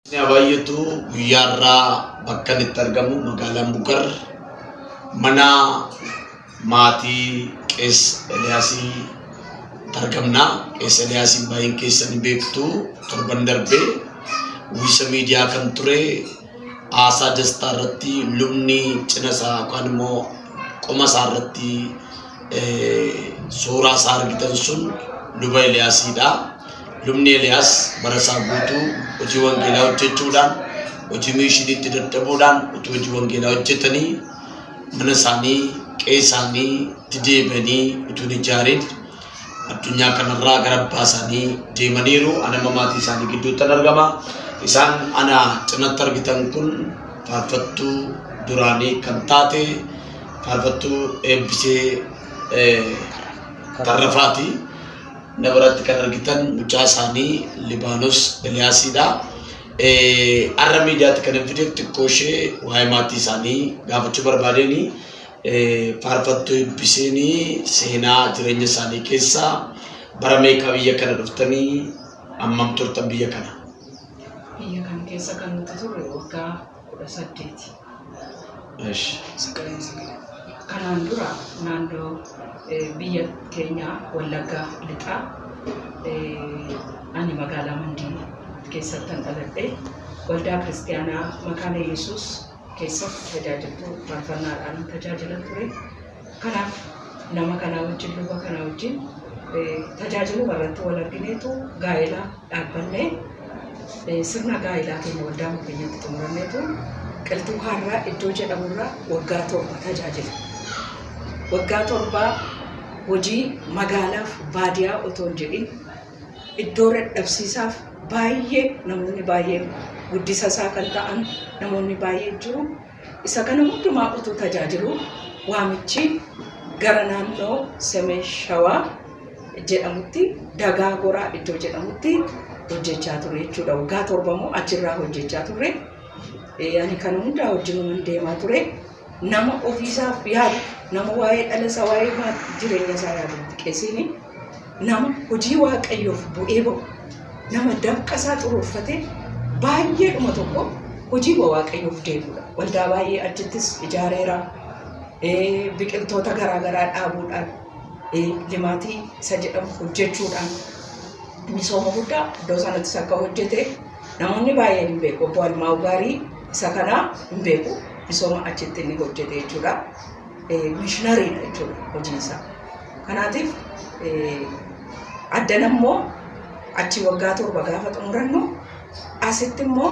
Inni Abaayyetu guyyaa irraa bakka inni itti argamu magaalaa Mukar mana maatii Qees Eliyaasii argamna. Qees Eliyaasii baay'een keessa ni beektu torban darbe uwwisa miidiyaa kan ture haasaa dastaa irratti lubni cina isaa yookaan immoo qoma isaa irratti suuraa isaa argitan sun luba Eliyaasiidha. Lubni Eliyaas bara isaa guutuu hojii wangeelaa hojjechuudhaan hojii miishiniitti dadhabuudhaan utuu hojii wangeelaa hojjetanii mana isaanii qe'ee isaanii itti deebi'anii utuu hin ijaarin addunyaa kanarraa gara abbaa isaanii deemaniiru. Ani amma maatii isaanii gidduuttan argama. Isaan ana cinatti argitan kun faarfattuu duraanii kan taate faarfattuu eebbisee tarrafaati na biratti kan argitan mucaa isaanii libaanos eliyaasiidha arra miidiyaatti kan hin fideef xiqqoo ishee waa'ee maatii isaanii gaafachuu barbaadeen faarfattuu eebbiseen seenaa jireenya isaanii keessaa bara meeqaa biyya kana dhuftanii ammam turtan biyya kana biyya kana keessa kan nuti turre waggaa kudha saddeeti. እሺ Sagaleen Sagalee Kanaan dura naannoo eh, biyya keenyaa Wallaggaa Lixaa eh, ani magaalaa Mandii keessattan dhaladhe waldaa kiristaanaa Makaana Yesuus keessatti tajaajiltuu faarfannaadhaan tajaajila ture. Kanaaf nama kanaa wajjin, luba kanaa wajjin tajaajiluma irratti wal argineetu gaa'ela dhaabbannee sirna gaa'elaa keenya waldaa mukeenyatti xumuranneetu qilxuu kaarraa iddoo jedhamurraa waggaa torba tajaajile. Waggaa torbaa hojii magaalaaf baadiyaa otoo hin jedhin iddoo dadhabsiisaaf baay'ee namoonni baay'een guddisa isaa kan ta'an namoonni baay'een jiru. Isa kana hundumaa utuu tajaajiluu waamichi gara naannoo Semeen Shawaa jedhamutti Dagaa Goraa iddoo jedhamutti hojjechaa ture jechuudha. Waggaa torba immoo achirraa hojjechaa ture. Eh, Ani kana hundaa wajjinuman deemaa ture. Nama ofiisaaf yaadu, nama waa'ee dhala isaa, waa'ee maa- jireenya isaa yaadu miti qesiini. Nama hojii Waaqayyoof bu'ee ba'u, nama dafqa isaa xuruurfatee baay'eedhuma tokko hojiima Waaqayyoof deebi'udha. Waldaa baay'ee achittis ijaareera. Eh, Biqiltoota garaa garaa dhaabuudhaan, eh, limaatii isa jedhamu hojjechuudhaan misooma guddaa iddoo sanattis akka hojjete namoonni baay'een hin beeku. Obbo Almaawu Gaarii isa kanaa hin beeku. Misooma achitti inni hojjete jechuudha. mishinariidha jechuudha hojiin isaa. Kanaatiif addan ammoo achi waggaa torba gaafa xumurannu asitti immoo